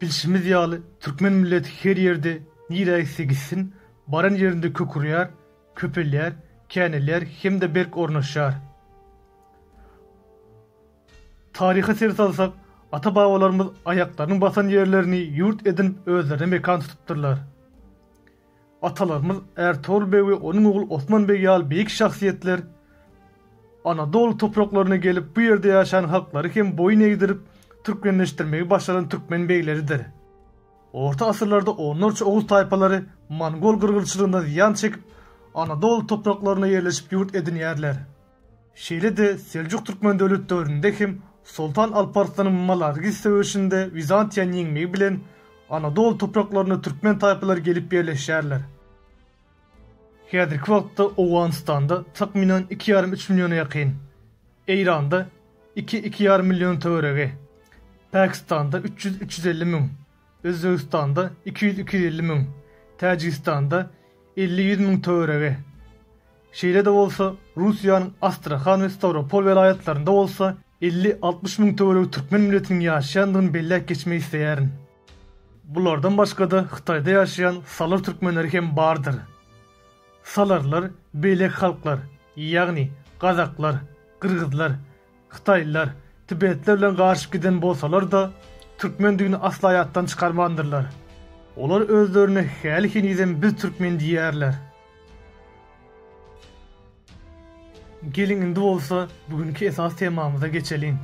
Bilşimiz ýaly, türkmen milleti her ýerde, nirä gitse gitsin, baran ýerinde kökürýär, köpelýär, känelýär hem-de berk ornaşýar. Taryha ser salsak, ata-babalarymyz aýaklarynyň basan ýerlerini ýurt edinip özlerine mekan tutupdyrlar. Atalarymyz Ärtogul beg we onuň ogly Osman beg ýaly beýik şahsyýetler Anadoly topraklaryna gelip, bu ýerde ýaşan halklary hem boýun egdirip, türkmenleşdirmegi başaran türkmen begleridir. Orta asyrlarda onlarça oguz taýpalary mongol gyrgylçylygyndan zyýan çekip, Anadoly topraklaryna ýerleşip ýurt edinýärler. Şeýle-de Seljuk-Türkmen döwlet döwründe hem Soltan Alp Arslanyň Malargis söweşinde Wizantiýany ýeňmegi bilen Anadoly topraklaryna türkmen taýpalary gelip ýerleşýärler. Häzirki wagtda Owganystanda takmynan iki ýarym üç milliona ýakyn, Eýranda iki-iki ýarym million töweregi, Pakistanda üç ýüz-üç ýüz elli müň, Özbegistanda iki ýüz, iki ýüz elli müň, Täjigistanda elli, ýüz müň töweregi. Şeýle-de bolsa, Russiýanyň Astrahan we Stawropol welaýatlarynda bolsa elli, altmyş müň töweregi türkmen milletiniň ýaşaýandygyny belläp geçmek isleýärin. Bulardan başga-da Hytaýda ýaşaýan salar türkmenleri hem bardyr. Salarlar beýleki halklar, ýagny gazaklar, gyrgyzlar, Hytaýlylar tibetler bilen garşyp giden bolsalar-da, türkmendigini asla ýatdan çykarmandyrlar. Olar özlerine häli henizem biz türkmen diýýärler. Geliň indi bolsa bugünki esas temamyza geçeliň.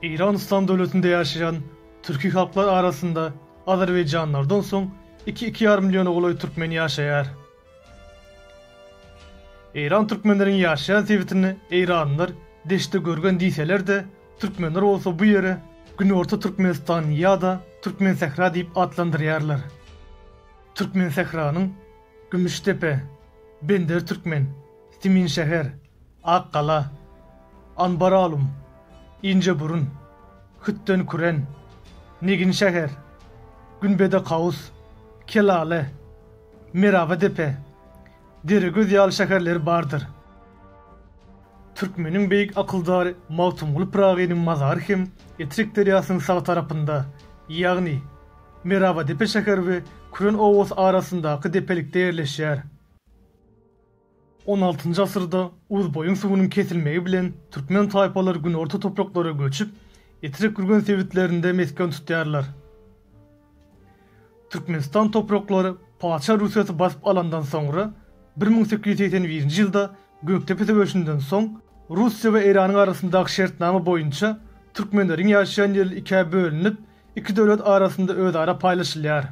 Eýran Yslam döwletinde ýaşaýan türki halklar arasynda azerbaýjanlylardan soň iki-iki ýarym milliona golaý türkmen ýaşaýar. Eýran türkmenleriň ýaşaýan sebitini eýranlylar Deştde görgen diýseler-de, türkmenler bolsa bu ýeri Günorta Türkmenistan ýa-da Türkmensähra diýip atlandyrýarlar. Türkmensähranyň Gümüşdepe, Bender Türkmen, Siminşäher, Ak gala, Anbaralum, Injeburun, Hütden küren, Negin şäher, Günbede kaus, Kelale, Meraba depe, Deregöz ýaly şäherleri bardyr. Türkmeniň beýik akyldary Magtymguly Pyragynyň mazary hem Etrek derýasynyň sag tarapynda, ýagny Merabadepe şäher we Küren obasy arasyndaky depelikde ýerleşýär. On altynjy asyrda Uzboýuň suwunyň kesilmegi bilen türkmen taýpalary günorta topraklara göçüp, Etrek-Gürgen sebitlerinde mesgen tutýarlar. Türkmenistan topraklary Paça Russiýasy basyp alandan soňra, bir müň sekiz ýüz segsen birinji ýylda Gökdepe söweşinden soň, Russiýa we Eýranyň arasyndaky şertnama boýunça türkmenleriň ýaşaýan ýeri ikä bölünip, iki döwlet arasynda özara paýlaşylýar.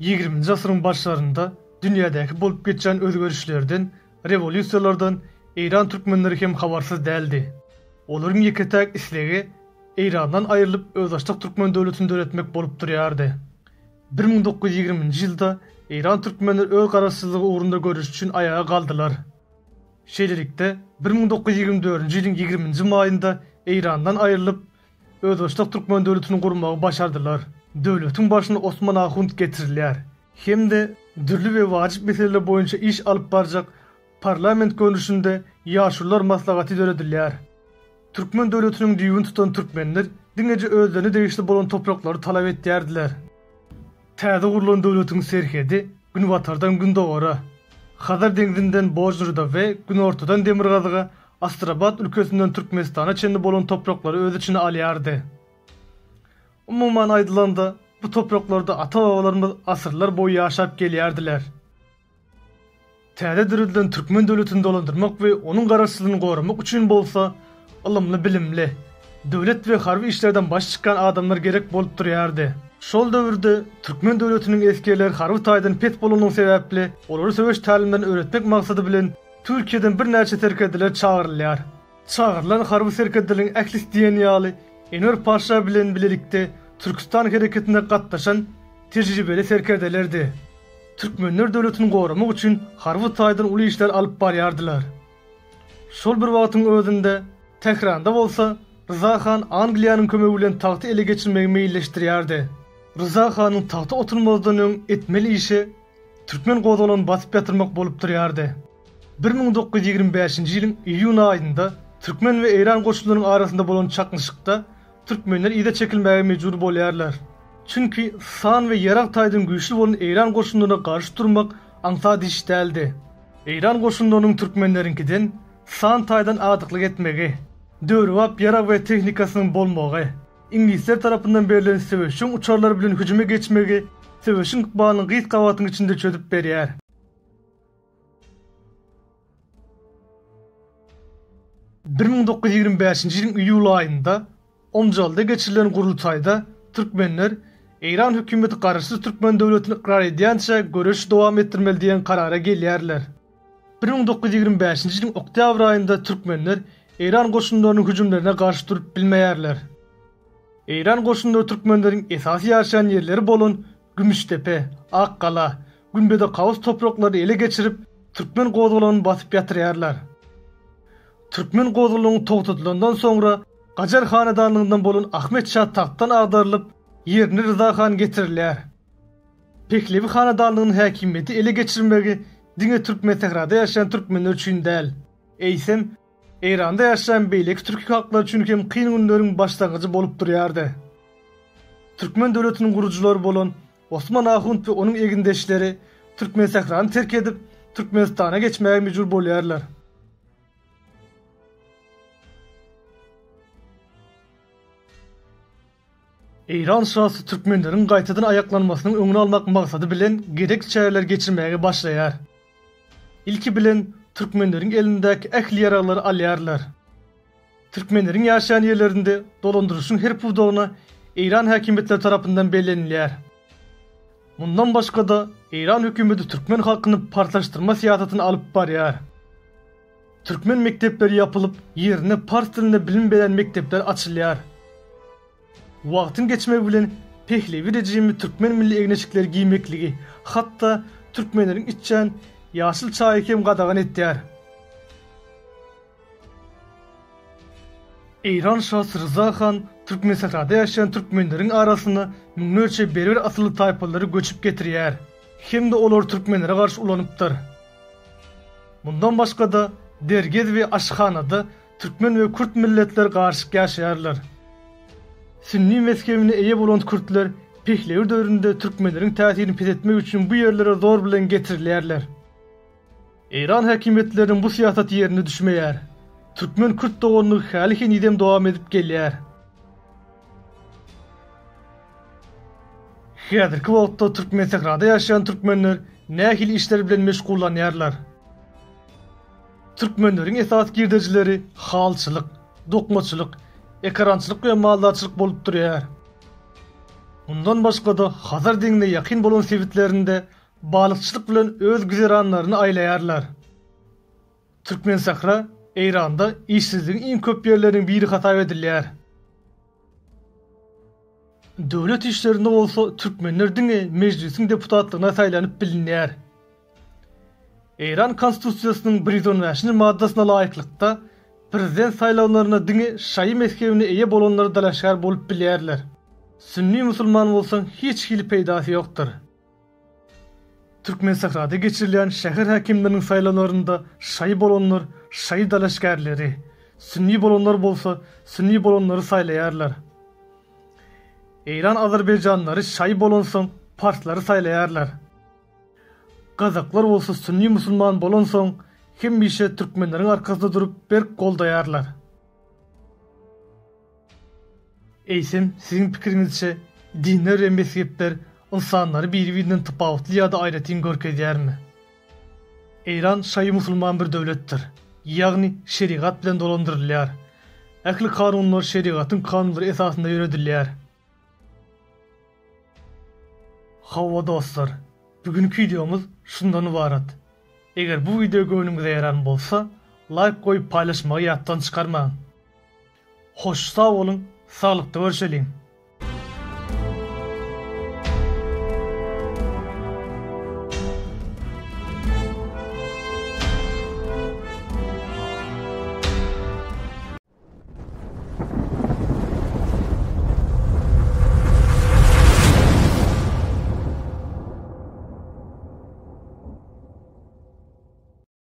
Ýigriminji asyryň başlarynda dünýädäki bolup geçýän özgerişlerden, rewolýusiýalardan eýran türkmenleri hem habarsyz däldi. Olaryň ýeke-täk islegi Eýrandan aýrylyp özbaşdak türkmen döwletini döretmek bolup durýardy. Bir müň dokuz ýüz ýigriminji ýylda eýran türkmenleri öz garaşsyzlygy ugrunda göreş üçin aýaga galdylar. Şeýlelikde, bir müň dokuz ýüz ýigrimi dördünji ýylyň ýigriminji maýynda Eýrandan aýrylyp, Özbaşdak türkmen döwletini gurmagy başardylar. Döwletiň başyna Osman Ahunt getirilýär hem-de dürli we wajyp meseleler boýunça iş alyp barjak parlament görnüşinde Ýaşulular maslahaty döredilýär. Türkmen döwletiniň düýbüni tutan türkmenler diňeje özlerine degişli bolan topraklary talap etýärdiler. Täze gurlan döwletiň serhedi günbatardan gündogara, Hazar deňzinden Bojnurda we günortadan demirgazyga, Astrabat ülkesinden Türkmenistana çenli bolan topraklary öz içine alýardy. Umuman aýdylanda, bu topraklarda ata-babalarymyz asyrlar boýy ýaşap gelýärdiler. Täze döredilen türkmen döwletini dolandyrmak we onuň Garaşsyzlygyny goramak üçin bolsa ylymly-bilimli, döwlet we harby işlerden başy çykýan adamlar gerek bolup durýardy. Şol döwürde türkmen döwletiniň esgerleri harby taýdan pes bolanlygy sebäpli olary söweş tälimlerini öwretmek maksady bilen Türkiýeden birnäçe serkerdeler çagyrylýar. Çagyrylan harby serkerdeleriň ählisi diýen ýaly Enwer paşa bilen bilelikde Türküstan hereketine gatnaşan tejribeli serkerdelerdi. Türkmenler döwletini goramak üçin harby taýdan uly işler alyp barýardylar. Şol bir wagtyň özünde Tähranda bolsa Ryza han Angliýanyň kömegi bilen tagty ele geçirmegi meýilleşdirýärdi. Ryza hanyň tagta oturmazdan öň etmeli işi türkmen gozgalagyny basyp ýatyrmak bolup durýardy. Bir müň dokuz ýüz ýigrimi bäşinji ýylyň iýun aýynda türkmen we eýran goşunlarynyň arasynda bolan çaknyşykda türkmenler yza çekilmäge mejbur bolýarlar. Çünki san we ýarag taýdan güýçli bolan eýran goşunlaryna garşy durmak aňsat iş däldi. Eýran goşunlarynyň türkmenleriňkiden san taýdan adyklyk etmegi, döwrebap ýarag we tehnikasynyň bolmagy, iňlisler tarapyndan berlen söweşjeň uçarlar bilen hüjüme geçmegi söweşiň ykbalyny gyz gabatyň içinde çözüp berýär. Bir müň dokuz ýüz ýigrimi bäşinji ýylyň iýul aýynda Omjalda geçirilen gurultaýda türkmenler Eýran hökümeti garaşsyz türkmen döwletini ykrar edýänçä göreşi dowam etdirmeli diýen karara gelýärler. Bir müň dokuz ýüz ýigrimi bäşinji ýylyň oktýabr aýynda türkmenler Eýran goşunlarynyň hüjümlerine garşy durup bilmeýärler. Eýran goşunlary türkmenleriň esasy ýaşaýan ýerleri bolan Gümüşdepe, Ak gala, Gümbede Kaws topraklaryny ele geçirip, türkmen gozgalaňyny basyp ýatyrýarlar. Türkmen gozgalaňy togtadylandan soňra, Gajar hanadandygyndan bolan Ahmet şa tagtdan agdarylyp, ýerine Ryza han getirilýär. Pehlewi hanadanlygynyň häkimiýeti ele geçirmegi diňe Türkmensährada ýaşaýan türkmenler üçin däl, eýsem, Eýranda ýaşaýan beýleki türki halklar üçin hem kyn günleriň başlangyjy bolup durýardy. Türkmen döwletiniň gurujylary bolan Osman Ahunt we onuň egindeşleri Türkmensährany terk edip, Türkmenistana geçmäge mejbur bolýarlar. Eýran şasy türkmenleriň gaýtadan aýaklanmasynyň öňüni almak maksady bilen gezek çäreler geçirmäge başlaýar. Ilki bilen, türkmenleriň elindäki ähli ýaraglary alýarlar. Türkmenleriň ýaşaýan ýerlerinde dolandyryşyň her pudagyna eýran häkimiýetleri tarapyndan bellenilýär. Mundan başga-da, eýran hökümeti türkmen halkyny partlaşdyrma syýasatyny alyp barýar. Türkmen mekdepleri ýapylyp, ýerine pars dilinde bilim berýän mekdepler açylýar. Wagtyň geçmegi bilen Pehlewi režimi türkmen milli egneşikleri giýmekligi, hatda türkmenleriň içýän ýaşyl çaýy hem gadagan etýär. Eýran şasy Ryza han Türkmensährada ýaşaýan türkmenleriň arasyna müňlerçe berber asylly taýpalylary göçüp getirýär hem-de olary türkmenlere garşy ulanypdyr. Mundan başga-da, dergez we aşyhanada türkmen we kürt milletler garyşyk ýaşaýarlar. Sünni mezhebine eýe bolan kürtler Pehlewir döwründe türkmenleriň täsirini peseltmek üçin bu ýerlere zor bilen getirilýärler. Eýran häkimiýetleriniň bu syýasaty ýerine düşmeýär. Türkmen-kürt doganlygy häli henizem dowam edip gelýär. Häzirki wagtda Türkmensährada ýaşaýan türkmenler nähili işler bilen meşgullanýarlar? Türkmenleriň esasy girdejileri halyçylyk, dokmaçylyk, ekarançylyk we maldarçylyk bolup durýar. Mundan başga-da Hazar deňzine ýakyn bolan sebitlerinde balykçylyk bilen öz güzeranlaryny aýlaýarlar. Türkmensähra Eýranda işsizligiň iň köp ýerleriniň biri hasap edilýär. Döwlet işlerinde bolsa türkmenler diňe Mejlisiň deputatlygyna saýlanyp bilinýär. Eýran Konstitusiýasynyň bir ýüz on bäşinji maddasyna laýyklykda, prezident saýlawlaryna diňe şaýy mezhebine eýe bolanlar dalaşgär bolup bilýärler. Sünni musulman bolsaň hiç hili peýdasy ýokdur. Türkmensährada geçirilýän şäher häkimleriniň saýlawlarynda şaý bolanlar şaý dalaşgärleri, sünni bolanlar bolsa sünni bolanlary saýlaýarlar. Eýran azerbaýjanlary şaý bolansoň parslary saýlaýarlar. Gazaklar bolsa sünni musulman bolansoň hemişe türkmenleriň arkasynda durup berk goldaýarlar. Eýsem, siziň pikiriňizçe, dinler we mezhepler ynsanlary biri-birinden tapawutly ýa-da aýratyn görkezýärmi? Eýran şaýy musulman bir döwletdir, ýagny şerigat bilen dolandyrylýar. Ähli kanunlar şerigatyň kanunlary esasynda ýöredilýär. Hawa dostlar, bu günki wideomyz şundan ybarat. Eger bu wideo göwnüňize ýaran bolsa, laýk goýup paýlaşmagy ýatdan çykarmaň. Hoş sag boluň saglykda görşeliň.